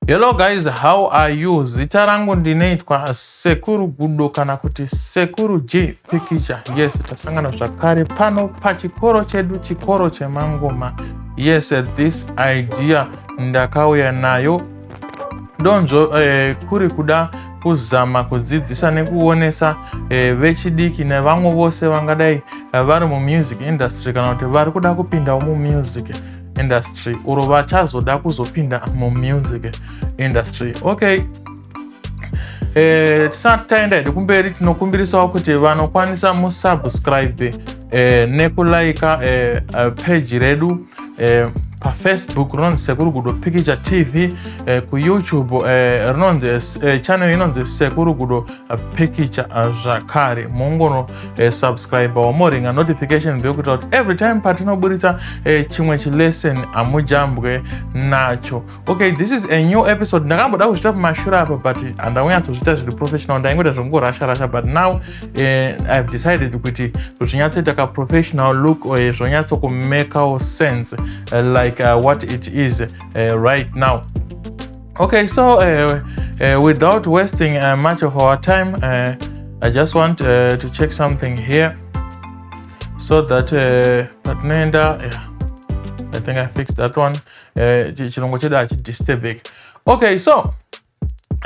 Hello guys, how are you? Zita rangu ndinoitwa Sekuru Gudo kana kuti Sekuru J Pikicha. Yes, tasangana zvakare pano pachikoro chedu, chikoro chemangoma. Yes, this idea ndakauya nayo donzvo eh, kuri kuda kuzama kudzidzisa nekuonesa eh, vechidiki nevamwe vose vangadai eh, vari mumusic industry kana kuti vari kuda kupindawo mumusic industry uro vachazoda kuzopinda mumusic industry okay eh, tisati taenda hedu kumberi tinokumbirisawo kuti vanokwanisa musubscribe eh, nekulaika eh, eh, peji redu eh, pafacebook rinonzi sekuru gudo pikicha tv eh, kuyoutube eh, rinonzi eh, eh channel inonzi sekuru gudo eh, pikicha eh, zvakare mungono eh, subscribe wamoringa notification bell kuitira kuti every time patinoburitsa eh, chimwe chilesson hamujambwe nacho okay this is a new episode ndakamboda kuzviita pamashura apa but handaunyatsoziita zviri professional ndaingoita zvekungorasha rasha but now uh, eh, ihave decided kuti zvinyatsoita kaprofessional look uh, eh, zvonyatsokumakewo sense uh, like uh, what it is uh, right now okay so uh, uh, without wasting uh, much of our time uh, i just want uh, to check something here so that uh, patinoenda yeah, i think i fixed that one uh, eh, chirongwa chedu hachidisturbeki okay so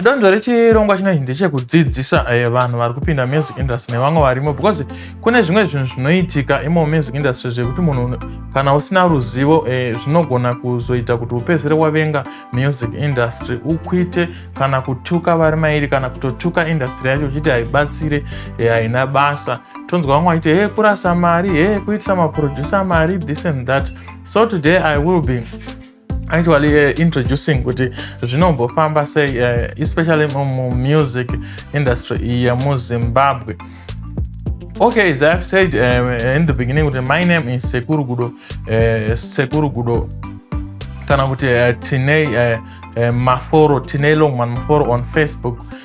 donzvo rechirongwa chinoi ndechekudzidzisa eh, vanhu vari kupinda music industry nevamwe varimo because kune zvimwe zvinhu zvinoitika imo music industry zvekuti munhu kana usina ruzivo eh, zvinogona kuzoita kuti upedzere wavenga music industry ukwite kana kutuka vari mairi kana kutotuka industry yacho uchiti haibatsire eh, haina basa tonzwa vamwe vachiti he kurasa mari he kuitisa maproducer mari this and that so today i will be actually uh, introducing kuti zvinombofamba sei uh, especially mumusic industry iya muzimbabwe okay as i've said um, in the beginning kuti my name is sekuru gudo uh, sekuru gudo kana kuti uh, tinei uh, uh, maforo tinei longman maforo on facebook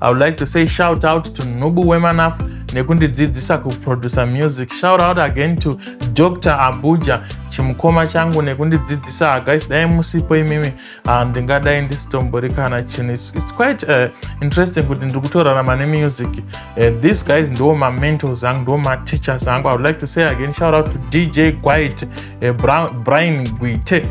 I would like to say shout out to Nubu Wemanaf nekundidzidzisa kuproducer music. Shout out again to Dr. Abuja chimukoma changu nekundidzidzisa guys dai musipo imimi ah, ndingadai um, ndisitombori kana chinhu it's quite uh, interesting kuti ndiri kutorarama nemusic uh, these guys ndiwo mamentors angu ndiwo mateachers angu i would like to say again shout out to dj quite uh, eh, brian guite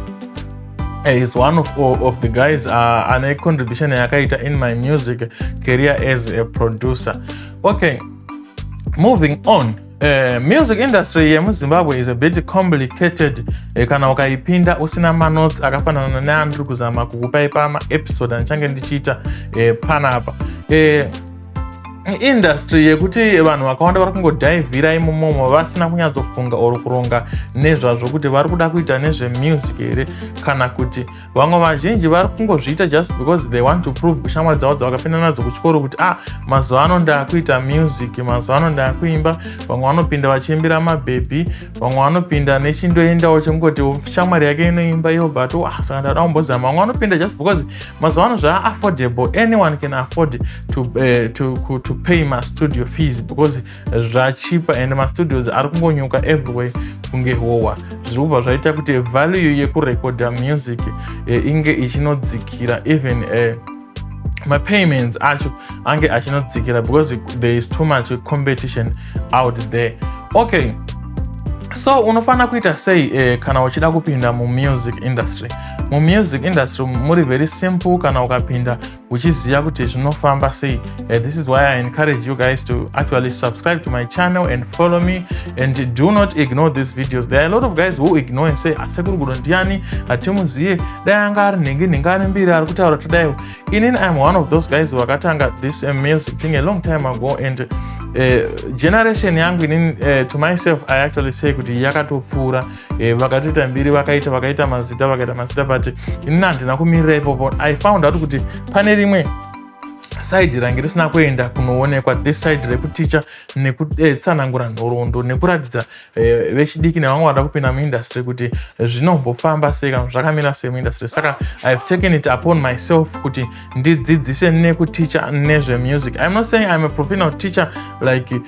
Eh, he's one of, of the guys uh, ane contribution yakaita in my music career as a producer okay moving on Uh, music industry yemuzimbabwe is a bit complicated uh, kana ukaipinda usina manotes akafanana neandiri kuzama kukupai pama episode andichange ndichiita uh, panapa uh, industry yekuti vanhu vakawanda vari kungodhaivhira imomomo vasina kunyatsofunga or kuronga nezvazvo kuti vari kuda kuita nezvemusic here kana kuti vamwe vazhinji vari kungozviita just because they want to prove kushamwari dzavo dzavakapinda nadzo kuchikoro kuti ah mazuva ano ndaakuita music mazuva ano ndaakuimba vamwe vanopinda vachiimbira mabhebhi vamwe vanopinda nechindoendawo chekungoti shamwari yake inoimba iyo but ah saka ndada kumbozama vamwe vanopinda just because mazuva ano zvaa affordable anyone can afford to, uh, to, to pay mastudio fees because zvachipa and mastudios ari kungonyuka everywhere kunge howa zviri kubva zvaita kuti value yekurekodha music uh, inge ichinodzikira even uh, mapayments acho ange achinodzikira because there is too much competition out there okay so unofanira kuita sei eh, kana uchida kupinda mumusic industry mumusic industry muri very simple kana ukapinda uchiziva kuti zvinofamba sei eh, this is why i encourage you guys to actually subscribe to my channel and follow me and do not ignore these videos there are a lot of guys who ignore and say asekuru ah, gudo ndiani hatimuziye dai anga ari nhingi nhingi ari mbiri ari kutaura tadaiwo inini iam one of those guys vakatanga this eh, music thing a long time ago and uh, generation yangu inini uh, to myself i actually say kuti yakatopfuura eh, vakatoita mbiri vakaita vakaita mazita vakaita mazita but inini handina kumirira ipopo i found out kuti pane rimwe side range risina kuenda kunoonekwa this side rekuticha nekutsanangura eh, nhoroondo nekuratidza eh, vechidiki nevamwe vada kupinda muindustry kuti eh, zvinombofamba sei kana zvakamira sei muindustry saka ihave taken it upon myself kuti ndidzidzise nekuticha nezvemusic im not saying im a professional teacher like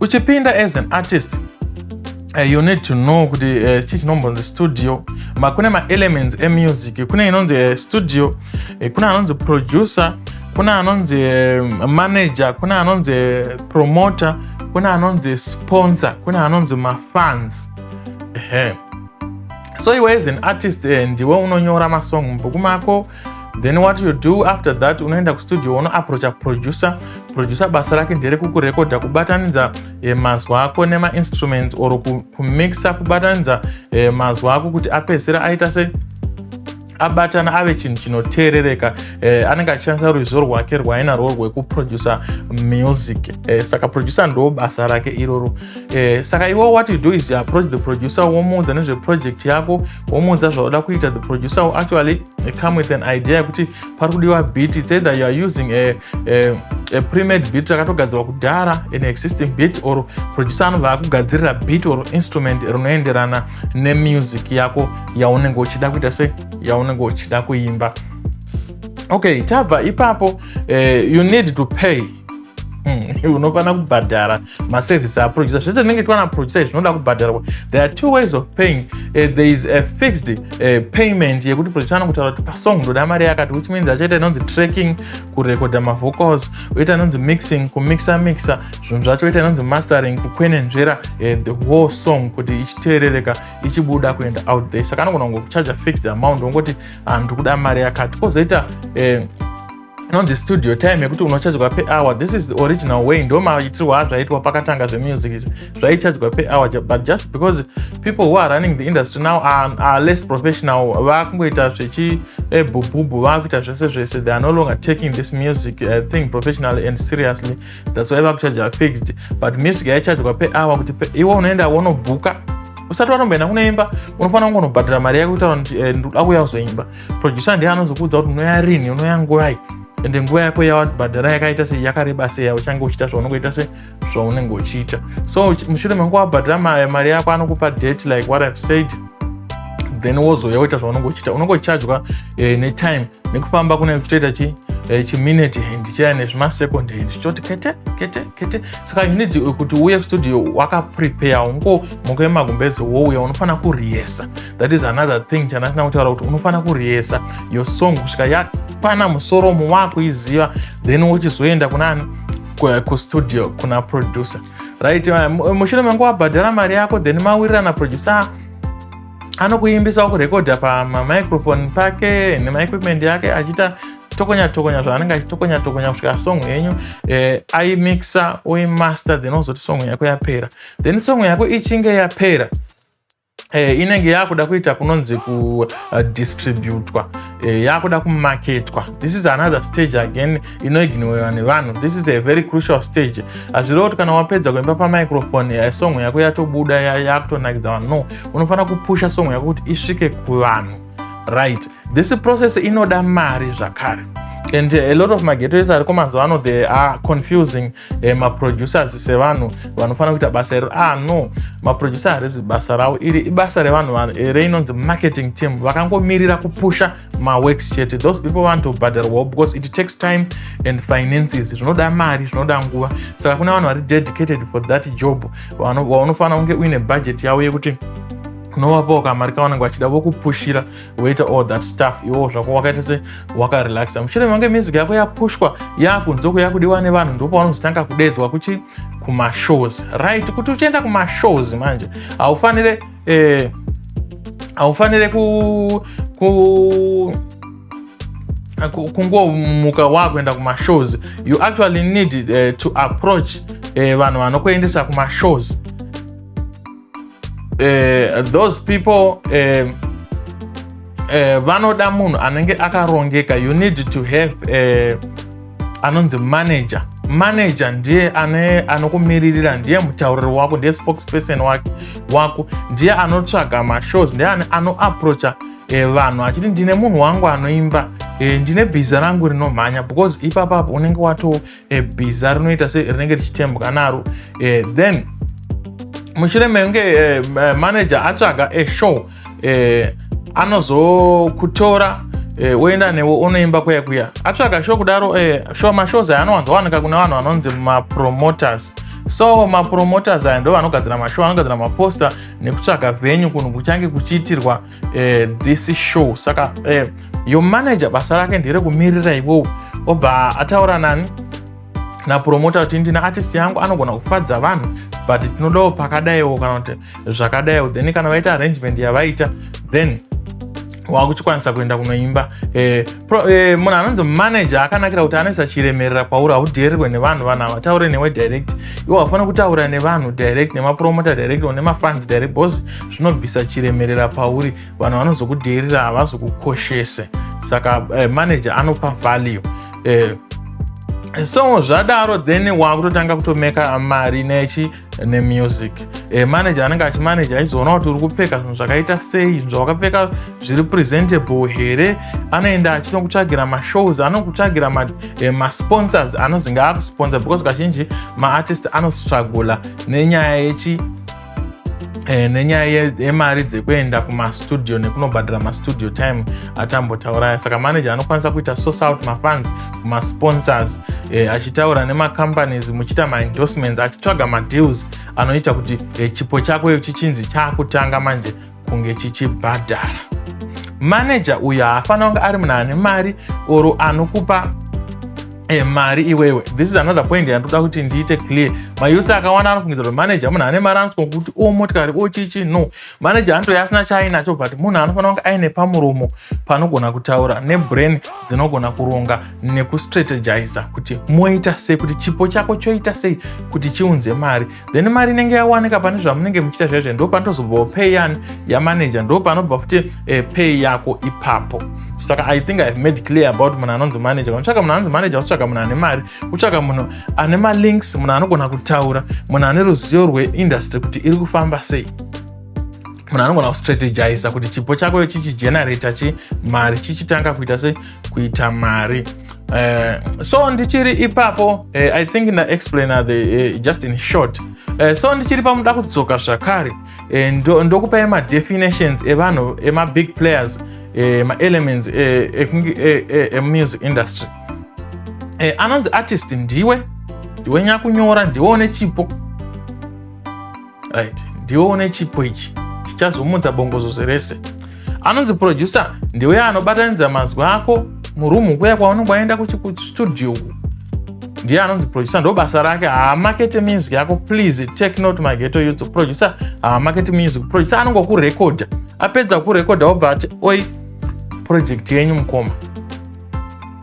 uchipinda as an artist Uh, you need to know kuti eh, chii uh, chinombonzi studio ma kune maelements emusic kune inonzi uh, studio uh, kune anonzi producer kune anonzi uh, manager kune anonzi uh, promoter kune anonzi sponsor kune anonzi mafans uh -huh. so iwe as an artist uh, ndiwe unonyora masong mubuku mako then what you do after that unoenda kustudio unoaproacha producer producer basa rake ndere kukurekodha kubatanidza eh, mazwa ako nemainstruments or kumixa kubatanidza eh, mazwa ako kuti apedzisira aita sei abatana ave chinhu chinoteerereka eh, anenge achishandisa ruzivo rwake rwainarwo rwekuproducer music eh, saka producer ndo basa rake iroro eh, saka iwo what you do is you approach the producer womuudza nezveproject yako womuudza zvauda kuita the producer will actually eh, come with an idea yekuti pari kudiwa beat it's either you are using a, a, a premade beat rakatogadzirwa kudhara an existing beat or producer anobva akugadzirira beat or instrument rinoenderana nemusic yako yaunenge uchida kuita se yaunenge uchida kuimba okay tabva ipapo uh, you need to pay hmm, unofanira kubhadhara maservice aproducer zvese zvinenge tiwana producer zvinoda kubhadharwa there are two ways of paying uh, there is a fixed uh, payment yekuti producer anokutaura kuti pasong ndoda mari yakati which means achaita inonzi tracking kurekodha mavocals oita inonzi mixing kumixa mixa zvinhu zvacho oita inonzi mastering kukwenenzvera uh, the whole song kuti ichiteerereka ichibuda kuenda out there saka anogona kungokucharger fixed amount wongoti handu ah, kuda mari yakati kwozoita uh, inonzi studio time yekuti unochajwa per hour this is the original way ndo maitirwo azvaitwa pakatanga zvemusic izvi zvaichajwa per hour but just because people who are running the industry now are, are less professional vakungoita zvechi ebhubhubhu eh, vakuita zvese zvese they are no longer taking this music uh, thing professionally and seriously that's why vakuchaja fixed but music yaichajwa per hour kuti iwe unoenda wonobhuka usati watomboenda kunoimba unofanira kungonobhadhira mari yako kutaura kuti eh, ndoda kuya kuzoimba producer ndiye anozokuudza kuti unoya rini unoya nguvai ende nguva yako yawabhadhara yakaita sei yakareba sei yauchange uchiita zvaunenge uita se zvaunenge uchiita so mushure mangu wabhadhara mari yako anokupa date like what ihave said then wozouya woita zvaunenge uchiita unenge uchargwa eh, netime nekufamba kune kutoita chi eh, chiminute hand chaya nezvimasecond hand zvichoti kete kete kete saka you need eh, kuti uye studio wakaprepare ungo moko yemagumbeze wouya unofanira kuriyesa that is another thing chandasina kutaura kuti unofanira kuriyesa your song kusvika yakwana musoromo wakuiziva then wochizoenda kunani kustudio kuna producer right mushure mangu wabhadhara mari yako then mawirirana producer anokuimbisa kurekodha pamamicrophone pake nemaequipment yake achiita tokonya tokonya zvaanenge achitokonya tokonya kusvika song yenyu eh, aimixa oimaster then ozoti song yako yapera then song yako ichinge yapera eh, inenge yakuda kuita kunonzi kudistributwa eh, uh, eh, yakuda kumaketwa this is another stage again inoignoiwa nevanhu this is a very crucial stage hazvireva kuti kana wapedza kuimba pamicrofone eh, song yako yatobuda yakutonakidza vanhu no unofanira kupusha song yako kuti isvike kuvanhu right this process inoda mari zvakare and a lot of magetoes ariko mazuva ano they are confusing eh, maproducers sevanhu vanofanira kuita basa iro ah no maproducer harizi basa ravo iri ibasa revanhu vanhu eh, reinonzi marketing team vakangomirira kupusha maworks chete those people want to bhadharwawo because it takes time and finances zvinoda mari zvinoda nguva saka kuna vanhu vari dedicated for that job vanofanira kunge uine budget yavo yekuti unovapawo kamari kavanenge vachida vokupushira woita all that stuff iwowo zvako wakaita se wakarelaxa mushure mange music yako yapushwa yakunzoko yakudiwa nevanhu ndopavanozotanga kudedzwa kuchi kumashows right kuti uchienda kumashows manje haufanire eh, haufanire ku, ku kungomuka wakuenda kumashows you actually need uh, to approach uh, vanhu vanokuendesa kumashows uh, those people uh, uh, vanoda munhu anenge akarongeka you need to have uh, anonzi manager manager ndiye ane anokumiririra ndiye mutauriri wako ndiye spokesperson wake wako ndiye anotsvaga mashows ndiye anoaproacha eh, vanhu uh, achiti ndine munhu wangu anoimba eh, ndine bhiza rangu rinomhanya because ipapapo unenge wato e, bhiza rinoita se rinenge richitembwa naro e, then mushure mekunge e, manager atsvaga e, show e, anozokutora e, woenda newe unoimba kuya kuya atsvaga show kudaro e, show mashows aya anowanzowanika kune vanhu vanonzi mapromoters so mapromoters aya ndo vanogadzira mashow anogadzira maposter nekutsvaga venyu kunhu kuchange kuchiitirwa eh, this show saka eh, your manager basa rake ndere kumirira iwowo obva ataura nani napromota kuti ndina artist yangu anogona kufadza vanhu but tinodawo pakadaiwo kana kuti zvakadaiwo then kana vaita arrangement yavaita then wakuchikwanisa kuenda kunoimba eh, Eh, munhu anonzi manager akanakira kuti anoisa chiremerera kwauri haudheererwe nevanhu vanhu havataure newe direct iwo hafana kutaura nevanhu direct nemapromota direct or nemafans direct bcause zvinobvisa chiremerera pauri vanhu vanozokudheerera havazokukoshese saka eh, manager anopa value eh, so zvadaro then wakutotanga kutomeka mari nechi nemusic e, manager anenge achimanager aizoona kuti uri kupfeka zvinhu zvakaita sei zvinhu zvawakapfeka zviri presentable here anoenda achinokutsvagira mashows anokutsvagira masponsors e, ma anozi ngaakusponsor because kazhinji maartist anostrugula nenyaya yechi Eh, nenyaya yemari dzekuenda kumastudio nekunobhadhara mastudio time atambotauraya saka manager anokwanisa kuita source out mafans masponsors eh, achitaura nemacompanies muchiita maendorsements achitsvaga madeals anoita kuti eh, chipo chako iyo chichinzi chaakutanga manje kunge chichibhadhara manager uyo haafanira kunge ari munhu ane mari or anokupa E, mari iwewe this is another point yandoda kuti ndiite clear mayusi akawanda anofungidzira kuti manager munhu ane mari anofunga kuti o oh, motikari o oh, chichi no manager anotove asina chaainacho but munhu anofanira kunge aine pamuromo panogona kutaura nebrain dzinogona kuronga nekustrategiza kuti moita sei kuti chipo chako choita sei kuti chiunze mari then mari inenge yawanika pane zvamunenge muchiita zvaizvo ndo panotozobvawo pay yani yamanager ndo panobva futi eh, pay yako ipapo saka i think ihave made clear about munhu anonzi manager unotsvaka munhu anonzi manager unotsvaka munhu ane mari utsvaka munhu ane malinks munhu anogona kutaura munhu ane ruzivo rweindustry kuti iri kufamba sei munhu anogona kustrategiza kuti chipo chako chichigenerator chi mari chichitanga kuita se kuita mari uh, so ndichiri ipapo uh, i think ndaexplaina the uh, just in short uh, so ndichiri pamuda kudzoka zvakare uh, ndokupai ndo madefinitions evanhu emabig players uh, maelements emusic uh, uh, uh, industry uh, anonzi artist ndiwe ndiwe nyakunyora ndiwe une chipo right ndiwe une chipo ichi chichazomutsa bongozozo rese anonzi producer ndiwe anobatanidza mazwi ako murumu kuya kwaunenge waenda kustudio uku ndiye anonzi producer ndo basa rake haamakete music yako please take note my geto youth producer haamakete music producer anongokurekodha apedza kukurekodha obva ati oi project yenyu mukoma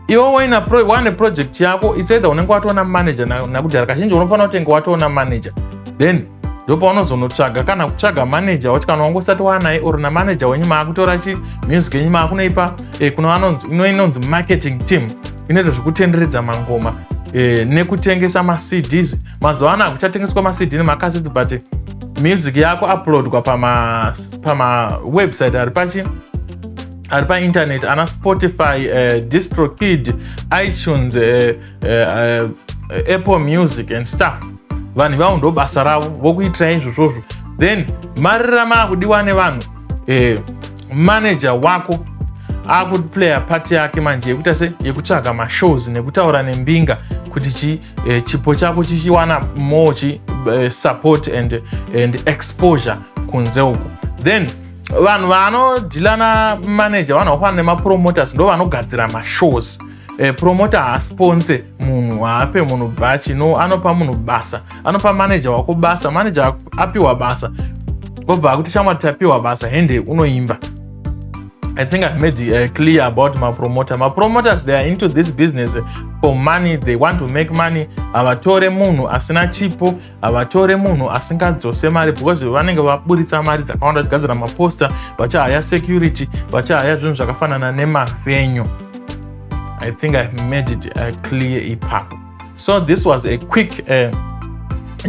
iwe waina wane project yako it's either unenge watoona manager nakudhara kazhinji unofanira kutenge watoona manager then ndopaunozonotsvaga kana kutsvaga manager wacho kana wange usati wanaye or namanager wenyu maakutora chi music yenyu maakunoipa eh, kuna inonzi marketing team inoita zvekutenderedza mangoma eh, nekutengesa macds mazuva ano akuchatengeswa macd nemakasiti but music yako uploadwa pamawebsite pama ari pachi ari paintaneti ana spotify uh, distrokid itunes uh, uh, uh, apple music and stuff vanhu ivavo ndo basa ravo vokuitirai izvozvozvo then mari ramava kudiwa nevanhu uh, manager wako akuplaya pati yake manje yekuita se yekutsvaga mashows nekutaura nembinga kuti chi eh, chipo chako chichiwana more chi eh, support and, and exposure kunze uko then vanhu vanodhila na manager vanhu vakufanana nemapromoters ndo vanogadzira mashows eh, promoter haasponse munhu haape munhu bhachi no anopa munhu basa anopa manager wako basa manager apiwa basa obva akuti shamwari tapiwa basa hende unoimba I think I've made uh, clear about my promoter. My promoters, they are into this business for money. They want to make money. Avatore munhu asina chipo, havatore munhu asingadzose mari because vanenge vaburitsa mari dzakawanda vachigadzira maposta vachahaya security vachahaya zvinhu zvakafanana nemavenyu i think i made it uh, clear ipapo so this was a quick uh,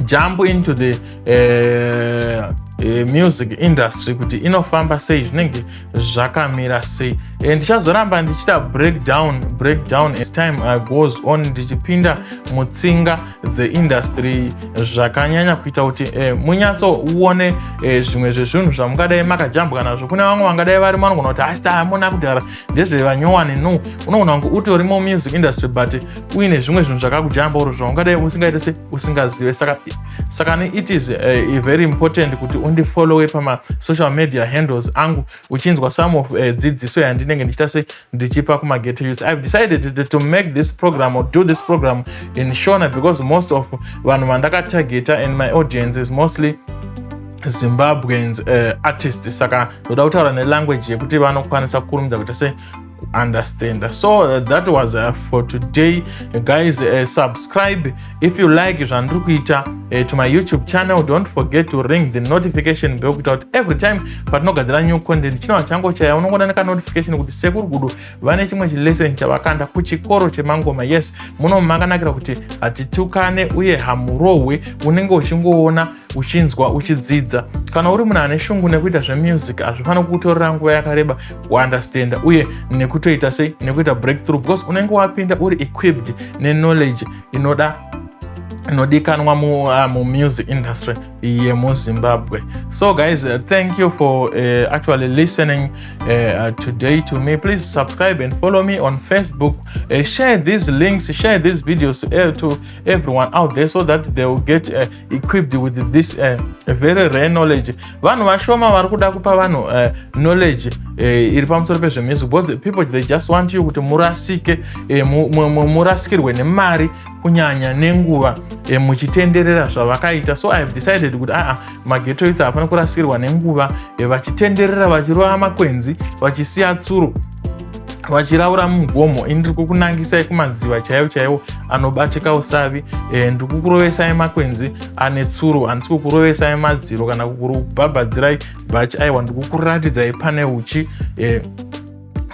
jump into the uh, uh, music industry kuti inofamba sei zvinenge zvakamira sei eh, ndichazoramba ndichita breakdown breakdown as time uh, goes on ndichipinda mutsinga dzeindustry zvakanyanya kuita kuti eh, munyatsouone eh, zvimwe zvezvinhu zvamungadai makajambwa nazvo kune vamwe vangadai vari manogona kuti asi taamona kudhara ndezvevanyowani no unogona kunge utori mumamusic industry but uine zvimwe zvinhu zvakakujamba uro zvaungadai usingaite se usingazive saka saka ne it is uh, very important kuti undifollowe pamasocial media handles angu uchinzwa some of uh, dzidziso yandinenge ndichita se ndichipa kumagate youth ive decided to make this program or do this program in shona because most of vanhu vandakatageta and my audience is mostly zimbabweans uh, artist saka ndoda kutaura nelanguage yekuti vanokwanisa kukurumidza kuita se understand so uh, that was uh, for today guys uh, subscribe if you like zvandiri kuita uh, to my youtube channel don't forget to ring the notification bell kuita kuti every time patinogadzira new content chinova chango chaya unongona nekanotification kuti sekuru gudu vane chimwe chilesson chavakanda kuchikoro chemangoma yes muno makanakira kuti hatitukane uye hamurohwe unenge uchingoona uchinzwa uchidzidza kana uri munhu ane shungu nekuita zvemusic hazvifaniri kukutorera nguva yakareba kuunderstanda uye nekutoita sei nekuita breakthrough because unenge wapinda uri equipped neknowledge inoda inodikanwa ah, mumusic mu industry yemuzimbabwe so guys uh, thank you for uh, actually listening uh, uh, today to me please subscribe and follow me on facebook uh, share these links share these videos to, uh, to everyone out there so that they will get uh, equipped with this uh, very rare knowledge vanhu vashoma vari kuda kupa vanhu uh, knowledge uh, iri pamusoro pezvemusic because the people they just want you kuti murasike uh, murasikirwe nemari kunyanya nenguva uh, muchitenderera zvavakaita so i have decided kuti aa mageto isi hapana kurasikirwa nenguva uh, vachitenderera vachirova makwenzi vachisiya tsuro vachiraura mugomo ini ndiri kukunangisai kumadziva chaiwo chaiwo anobatika usavi e, ndiri kukurovesai makwenzi ane tsuro handisi kukurovesai madziro kana kukubhabhadzirai bhachi aiwa ndiri kukuratidzai pane uchi e,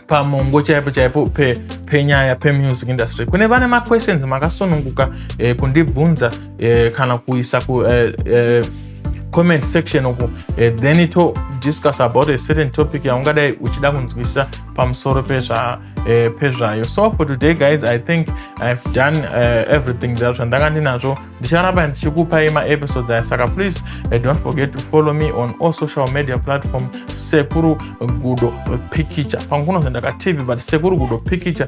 pamongo chaipo chaipo pe, penyaya pemusic industry kune vane maquestions makasununguka e, kundibvunza e, kana kuisa ku e, e, comment section uku eh, then to discuss about a certain topic yaungadai uchida kunzwisisa pamusoro pezva eh, pezvayo so for today guys i think i've done uh, everything that zvandanga ndinazvo ndicharamba ndichikupai maepisodes aya saka please uh, don't forget to follow me on all social media platform sekuru gudo pikicha pangu kunozendaka tv but sekuru gudo pikicha